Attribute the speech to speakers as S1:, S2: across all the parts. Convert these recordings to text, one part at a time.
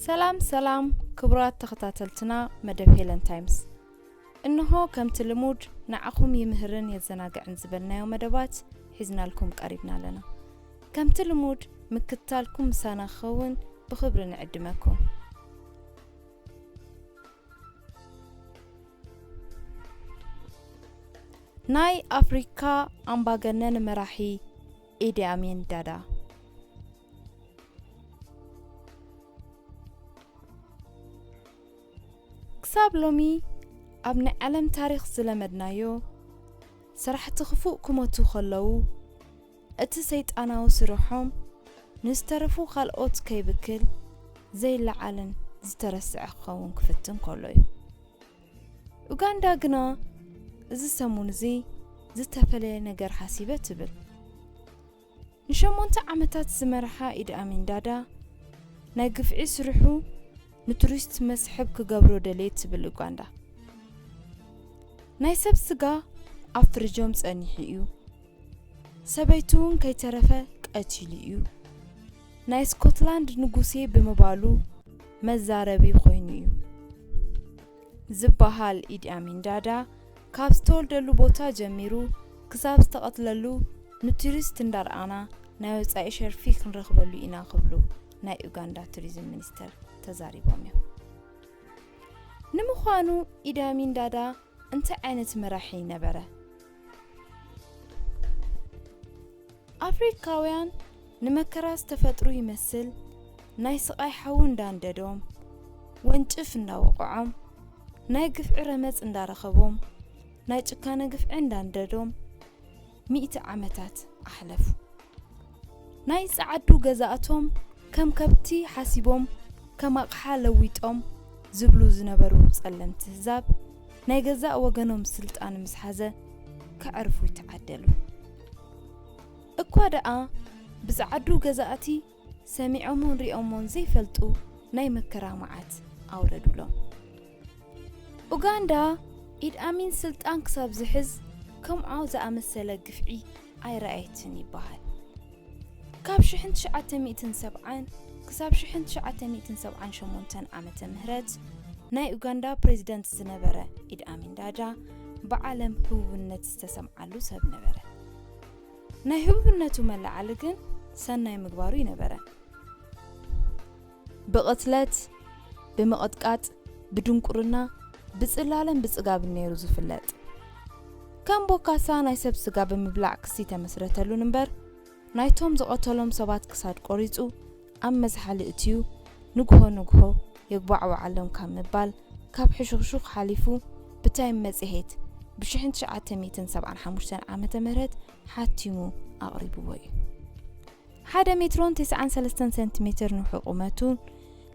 S1: ሰላም ሰላም ክቡራት ተኸታተልትና መደብ ሄለን ታይምስ እንሆ ከምቲ ልሙድ ንዓኹም ይምህርን የዘናግዕን ዝበልናዮ መደባት ሒዝናልኩም ቀሪብና ኣለና ከምቲ ልሙድ ምክትታልኩም ምሳና ክኸውን ብኽብሪ ንዕድመኩም ናይ ኣፍሪካ ኣምባገነን መራሒ ኢዲኣሚን ዳዳ ክሳብ ሎሚ ኣብ ናይ ዓለም ታሪክ ዝለመድናዮ ሰራሕቲ ክፉእ ክመቱ ከለዉ እቲ ሰይጣናዊ ስርሖም ንዝተረፉ ካልኦት ከይብክል ዘይለዓልን ዝተረስዐ ክኸውን ክፍትን ከሎ እዩ። ኡጋንዳ ግና እዚ ሰሙን እዚ ዝተፈለየ ነገር ሓሲበ ትብል። ንሸሞንተ ዓመታት ዝመርሓ ኢድ ኣሚን ዳዳ ናይ ግፍዒ ስርሑ ንቱሪስት መስሕብ ክገብሮ ደልየ ትብል ኡጋንዳ። ናይ ሰብ ስጋ ኣብ ፍርጆም ጸኒሑ እዩ ሰበይቱ ውን ከይተረፈ ቀቲሉ እዩ። ናይ ስኮትላንድ ንጉሴ ብምባሉ መዛረቢ ኮይኑ እዩ። ዝበሃል ኢድ ኣሚን ዳዳ ካብ ዝተወልደሉ ቦታ ጀሚሩ ክሳብ ዝተቐትለሉ ንቱሪስት እንዳርኣና ናይ ወፃኢ ሸርፊ ክንረኽበሉ ኢና ክብሉ ናይ ኡጋንዳ ቱሪዝም ሚኒስተር ተዛሪቦም እዮም። ንምዃኑ ኢድ ኣሚን ዳዳ እንታይ ዓይነት መራሒ ነበረ? ኣፍሪካውያን ንመከራ ዝተፈጥሩ ይመስል ናይ ስቓይ ሓዊ እንዳንደዶም፣ ወንጭፍ እንዳወቕዖም፣ ናይ ግፍዒ ረመፅ እንዳረኸቦም፣ ናይ ጭካነ ግፍዒ እንዳንደዶም፣ ሚእቲ ዓመታት ኣሕለፉ። ናይ ጸዓዱ ገዛእቶም ከም ከብቲ ሓሲቦም ከም ኣቕሓ ለዊጦም ዝብሉ ዝነበሩ ጸለምቲ ህዛብ፣ ናይ ገዛእ ወገኖም ስልጣን ምስ ሓዘ ከዕርፉ ይተዓደሉ። እኳ ደኣ ብጸዓዱ ገዛእቲ፣ ሰሚዖሞን ሪኦሞን ዘይፈልጡ ናይ መከራ መዓት ኣውረዱሎም። ኡጋንዳ ኢድ ኣሚን ስልጣን ክሳብ ዝሕዝ ከምዖ ዝኣመሰለ ግፍዒ ኣይረኣየትን ይበሃል። ካብ ሽሕን ትሽዓተ ሚእትን ሰብዓን ክሳብ ሽሕን ትሽዓተ ሚእትን ሰብዓን ሸሞንተን ዓመተ ምህረት ናይ ኡጋንዳ ፕሬዚደንት ዝነበረ ኢድ ኣሚን ዳዳ ብዓለም ህቡብነት ዝተሰምዓሉ ሰብ ነበረ። ናይ ህቡብነቱ መለዓሊ ግን ሰናይ ምግባሩ ይነበረ። ብቕትለት፣ ብምቕጥቃጥ፣ ብድንቁርና፣ ብጽላለን ብጽጋብን ነይሩ ዝፍለጥ። ከም ቦካሳ ናይ ሰብ ስጋ ብምብላዕ ክሲ ተመስረተሉን እምበር፣ ናይቶም ዝቐተሎም ሰባት ክሳድ ቆሪጹ፣ ኣብ መዝሓሊ እትዩ ንግሆ ንግሆ የጉባዕብዓሎም ካብ ምባል ካብ ሕሹኽሹኽ ሓሊፉ ብታይም መጽሔት ብ ሽሕን ትሽዓተ ሚእትን ሰብዓን ሓሙሽተን ዓመተ ምህረት ሓቲሙ ኣቕሪብዎ እዩ። ሓደ ሜትሮን ትስዓን ሰለስተን ሰንቲሜተር ንውሒ ቁመቱን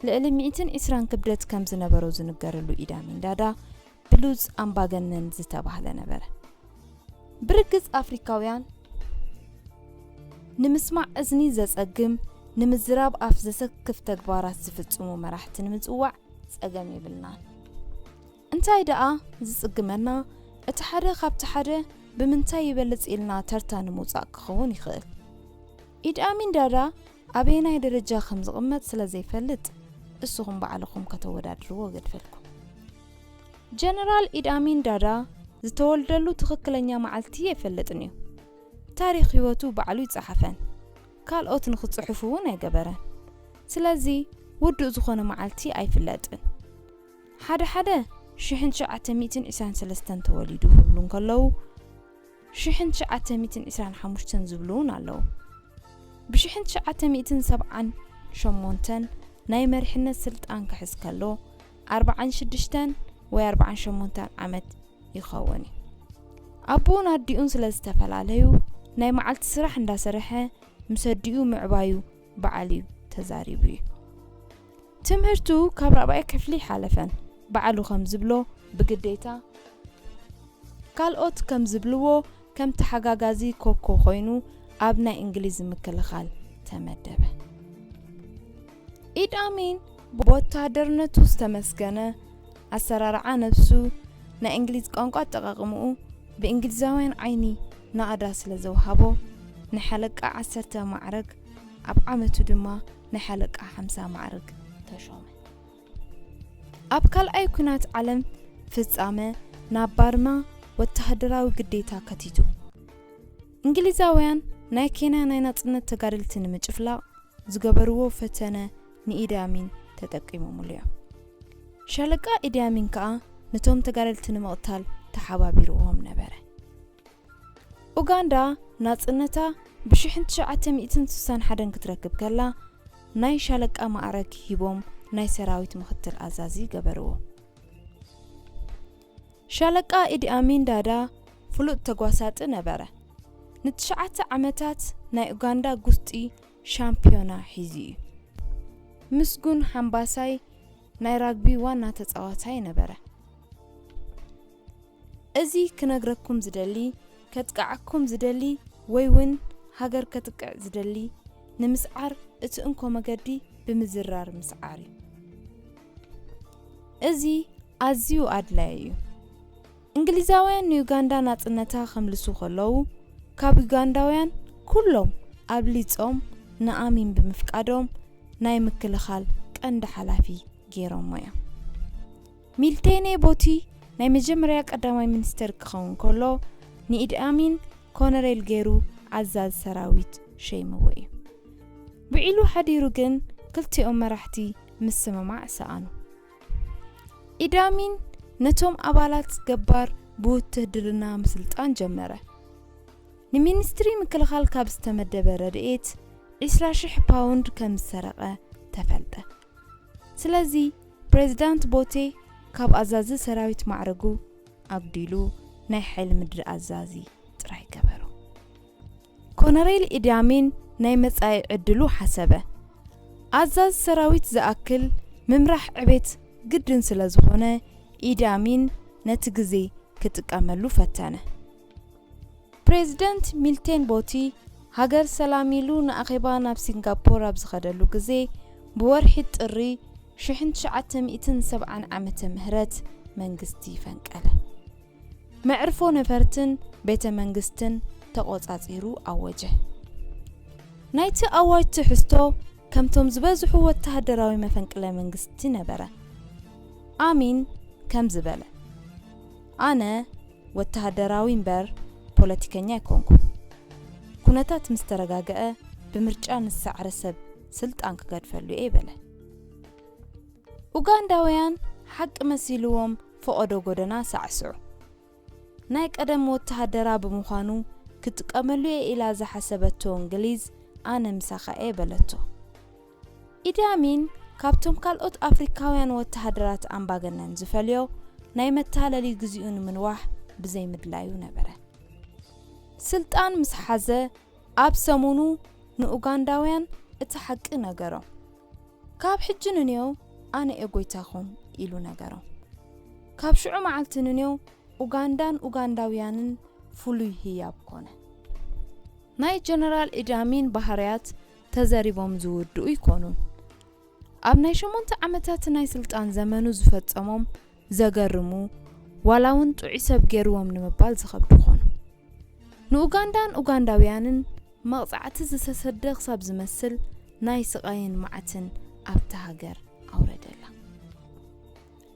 S1: ልዕሊ ሚእትን ዒስራን ክብደት ከም ዝነበሮ ዝንገረሉ ኢዳሚን ዳዳ፣ ብሉጽ ኣምባገነን ዝተባህለ ነበረ። ብርግጽ ኣፍሪካውያን ንምስማዕ እዝኒ ዘጸግም ንምዝራብ ኣፍ ዘሰክፍ ተግባራት ዝፍጽሙ መራሕቲ ንምጽዋዕ ጸገም የብልናን። እንታይ ደኣ ዝጽግመና እቲ ሓደ ካብቲ ሓደ ብምንታይ ይበልጽ ኢልና ተርታ ንምውጻእ ክኸውን ይኽእል። ኢድ ኣሚን ዳዳ ኣበየናይ ደረጃ ከም ዝቕመጥ ስለ ዘይፈልጥ እስኹም ባዕልኹም ከተወዳድርዎ እገድፈልኩም። ጀነራል ኢድ ኣሚን ዳዳ ዝተወልደሉ ትኽክለኛ መዓልቲ ኣይፈልጥን እዩ። ታሪኽ ህይወቱ ባዕሉ ኣይጸሓፈን፣ ካልኦት ንኽጽሕፉ እውን ኣይገበረን። ስለዚ ውዱእ ዝኾነ መዓልቲ ኣይፍለጥን። ሓደ ሓደ ሽሕን ትሽዓተ ሚእትን ዒስራን ሰለስተን ተወሊዱ ክብሉ እንከለዉ፣ ሽሕን ትሽዓተ ሚእትን ዒስራን ሓሙሽተን ዝብሉ እውን ኣለዉ። ብሽሕን ትሽዓተ ሚእትን ሰብዓን ሸሞንተን ናይ መሪሕነት ስልጣን ክሕዝ ከሎ ኣርብዓን ሽዱሽተን ወይ ኣርብዓን ሸሞንተን ዓመት ይኸውን እዩ። ኣቦኡን ኣዲኡን ስለ ዝተፈላለዩ ናይ መዓልቲ ስራሕ እንዳሰርሐ ምስ ኣዲኡ ምዕባዩ በዓል እዩ ተዛሪቡ እዩ ትምህርቱ ካብ ራብኣይ ክፍሊ ሓለፈን በዓሉ ከም ዝብሎ ብግዴታ ካልኦት ከም ዝብልዎ ከም ተሓጋጋዚ ኮኮ ኮይኑ ኣብ ናይ እንግሊዝ ምክልኻል ተመደበ ኢድ ኣሚን ብወታሃደርነቱ ዝተመስገነ ኣሰራርዓ ነብሱ፣ ናይ እንግሊዝ ቋንቋ ኣጠቓቕምኡ ብእንግሊዛውያን ዓይኒ ናእዳ ስለ ዘውሃቦ፣ ናይ ሓለቃ ዓሰርተ ማዕርግ፣ ኣብ ዓመቱ ድማ ናይ ሓለቃ ሓምሳ ማዕርግ ተሾመ። ኣብ ካልኣይ ኩናት ዓለም ፍጻመ ናብ ባርማ ወተሃደራዊ ግዴታ ከቲቱ። እንግሊዛውያን ናይ ኬንያ ናይ ናጽነት ተጋደልቲ ንምጭፍላቕ ዝገበርዎ ፈተነ ንኢዲ ኣሚን ተጠቂሞምሉ እዮም። ሻለቃ ኢዲ ኣሚን ከኣ ነቶም ተጋደልቲ ንምቕታል ተሓባቢርዎም ነበረ። ኡጋንዳ ናጽነታ ብ ሽሕን ትሽዓተ ሚእትን ስሳን ሓደን ክትረክብ ከላ ናይ ሻለቃ ማዕረግ ሂቦም ናይ ሰራዊት ምኽትል ኣዛዚ ገበርዎ። ሻለቃ ኢዲ ኣሚን ዳዳ ፍሉጥ ተጓሳጢ ነበረ። ንትሽዓተ ዓመታት ናይ ኡጋንዳ ጉስጢ ሻምፕዮና ሒዙ እዩ። ምስጉን ሓምባሳይ ናይ ራግቢ ዋና ተጻዋታይ ነበረ። እዚ ክነግረኩም ዝደሊ ከጥቅዓኩም ዝደሊ ወይ ውን ሃገር ከጥቅዕ ዝደሊ ንምስዓር እቲ እንኮ መገዲ ብምዝራር ምስዓር እዩ። እዚ ኣዝዩ ኣድላይ እዩ። እንግሊዛውያን ንዩጋንዳ ናጽነታ ከምልሱ ከለዉ፣ ካብ ዩጋንዳውያን ኩሎም ኣብሊጾም ንኣሚን ብምፍቃዶም ናይ ምክልኻል ቀንዲ ሓላፊ ገይሮሞ እዮም። ሚልቴኔ ቦቲ ናይ መጀመርያ ቀዳማይ ሚኒስተር ክኸውን ከሎ፣ ንኢድ ኣሚን ኮነሬል ገይሩ ኣዛዚ ሰራዊት ሸይምዎ እዩ። ውዒሉ ሓዲሩ ግን ክልቲኦም መራሕቲ ምስምማዕ ሰኣኑ። ኢዳሚን ነቶም ኣባላት ገባር ብውትህድርና ምስልጣን ጀመረ። ንሚኒስትሪ ምክልኻል ካብ ዝተመደበ ረድኤት 20,000 ፓውንድ ከም ዝሰረቐ ተፈልጠ። ስለዚ ፕሬዝዳንት ቦቴ ካብ ኣዛዚ ሰራዊት ማዕረጉ ኣጉዲሉ ናይ ሓይሊ ምድሪ ኣዛዚ ጥራይ ገበሮ። ኮነሬል ኢዲ ኣሚን ናይ መጻኢ ዕድሉ ሓሰበ። ኣዛዚ ሰራዊት ዝኣክል ምምራሕ ዕቤት ግድን ስለ ዝኾነ ኢዲ ኣሚን ነቲ ግዜ ክጥቀመሉ ፈተነ። ፕሬዝደንት ሚልቴን ቦቲ ሃገር ሰላም ኢሉ ንኣኼባ ናብ ሲንጋፖር ኣብ ዝኸደሉ ግዜ ብወርሒ ጥሪ ሽሕን ትሽዓተ ሚእትን ሰብዓን ዓመተ ምህረት መንግስቲ ፈንቀለ። መዕርፎ ነፈርትን ቤተ መንግስትን ተቖጻጺሩ ኣወጀ። ናይቲ ኣዋጅ ትሕዝቶ ከምቶም ዝበዝሑ ወተሃደራዊ መፈንቅለ መንግስቲ ነበረ። ኣሚን ከምዚ በለ፣ ኣነ ወተሃደራዊ እምበር ፖለቲከኛ ኣይኮንኩን። ኩነታት ምስ ተረጋግዐ ብምርጫ ንዝሰዓረ ሰብ ስልጣን ክገድፈሉ'የ በለ። ኡጋንዳውያን ሓቂ መሲልዎም ፈቐዶ ጎደና ሳዕስዑ። ናይ ቀደም ወተሃደራ ብምዃኑ ክጥቀመሉ'የ ኢላ ዝሓሰበቶ እንግሊዝ ኣነ ምሳኻ'የ በለቶ። ኢዲ ኣሚን ካብቶም ካልኦት ኣፍሪካውያን ወተሃደራት ኣምባገነን ዝፈልዮ ናይ መታለሊ ግዚኡ ንምንዋሕ ብዘይምድላዩ ነበረ። ስልጣን ምስ ሓዘ ኣብ ሰሙኑ ንኡጋንዳውያን እቲ ሓቂ ነገሮም። ካብ ሕጂ ንኔው ኣነ እየ ጎይታኹም ኢሉ ነገሮም። ካብ ሽዑ መዓልቲ ንኔው ኡጋንዳን ኡጋንዳውያንን ፍሉይ ህያብ ኮነ። ናይ ጀነራል ኢዲ ኣሚን ባህርያት ተዘሪቦም ዝውድኡ ኣይኮኑን። ኣብ ናይ ሸሞንተ ዓመታት ናይ ስልጣን ዘመኑ ዝፈጸሞም ዘገርሙ ዋላ ውን ጥዑይ ሰብ ገይርዎም ንምባል ዝኸብዱ ኾኑ። ንኡጋንዳን ኡጋንዳውያንን መቕጻዕቲ ዝተሰደ ክሳብ ዝመስል ናይ ስቓይን መዓትን ኣብታ ሃገር ኣውረደላ።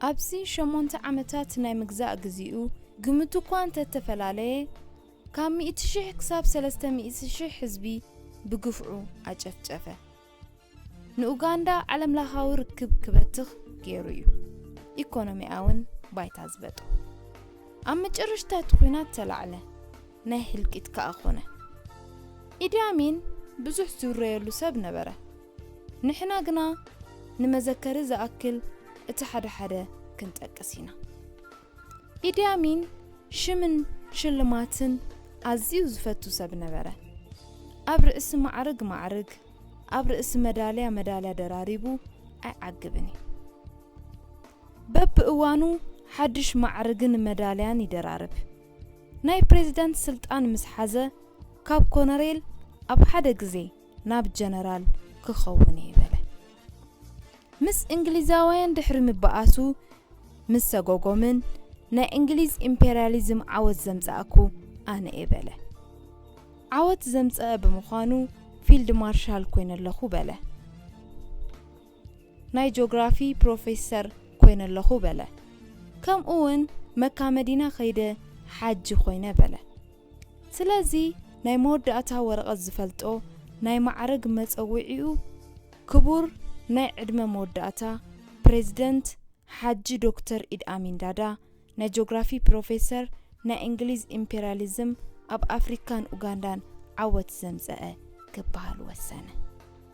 S1: ኣብዚ ሸሞንተ ዓመታት ናይ ምግዛእ ግዚኡ ግምቱ እኳ እንተተፈላለየ ካብ ሚእቲ ሽሕ ክሳብ ሰለስተ ሚእቲ ሽሕ ህዝቢ ብግፍዑ ኣጨፍጨፈ። ንኡጋንዳ ዓለምላኻዊ ርክብ ክበትኽ ገይሩ እዩ ኢኮኖሚኣውን ባይታ ዝበጦ ኣብ መጨረሽታ እቲ ኩናት ተላዕለ ናይ ህልቂት ከኣ ኮነ ኢድያሚን ብዙሕ ዝውረየሉ ሰብ ነበረ ንሕና ግና ንመዘከሪ ዝኣክል እቲ ሓደ ሓደ ክንጠቅስ ኢና ኢዲ ኣሚን ሽምን ሽልማትን ኣዝዩ ዝፈቱ ሰብ ነበረ። ኣብ ርእሲ ማዕርግ ማዕርግ፣ ኣብ ርእሲ መዳልያ መዳልያ ደራሪቡ ኣይዓግብን እዩ። በብእዋኑ ሓድሽ ማዕርግን መዳልያን ይደራርብ። ናይ ፕሬዚዳንት ስልጣን ምስ ሓዘ ካብ ኮነሬል ኣብ ሓደ ግዜ ናብ ጀነራል ክኸውን እየ በለ። ምስ እንግሊዛውያን ድሕሪ ምበኣሱ ምስ ሰጎጎምን፣ ናይ እንግሊዝ ኢምፔርያሊዝም ዓወት ዘምጻእኩ ኣነ እየ በለ። ዓወት ዘምጸኣ ብምዃኑ ፊልድ ማርሻል ኮይነ ኣለኹ በለ። ናይ ጆግራፊ ፕሮፌሰር ኮይነ ኣለኹ በለ። ከምኡውን መካ መዲና ከይደ ሓጂ ኮይነ በለ። ስለዚ ናይ መወዳእታ ወረቐት ዝፈልጦ ናይ ማዕርግ መጸዊዒኡ ክቡር ናይ ዕድመ መወዳእታ ፕረዚደንት ሓጂ ዶክተር ኢድ ኣሚን ዳዳ ናይ ጆግራፊ ፕሮፌሰር ናይ እንግሊዝ ኢምፔርያሊዝም ኣብ ኣፍሪካን ኡጋንዳን ዓወት ዘምጸኣ ክበሃል ወሰነ።